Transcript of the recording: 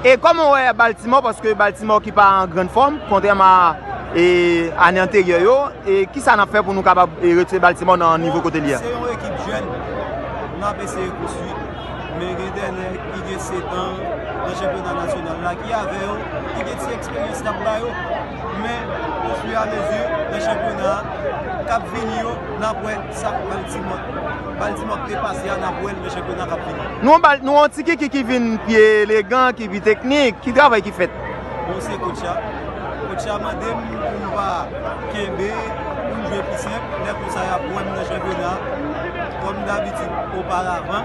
E kòman w wè Baltimore paske Baltimore ki pa an grann fòm kontrèman a ane anteryè yo e kisa n ap fè pou nou kapab retire Baltimore nan nivo kote li a? Se yon ekip jèn n ap eseye konstwi men gen de nèg ki gen setan nan chanpyona nasyonal la ki avè yo ki gen ti eksperyans n ap ba yo men ofiramezi nan chanpyona k ap vini yo n ap wè sa Baltimore Baldy map byen pase a nan bwèl men chanpyona kap vini. Nou yon ti kiki ki vin pi elegan, ki pi teknik, ki travay ki fèt? Bon se coach a, coach a mandem pou m pa kenbe, pou m jwe pi senp, lè konsa yap wèm nan chanpyona, kòm dabitid oparavan.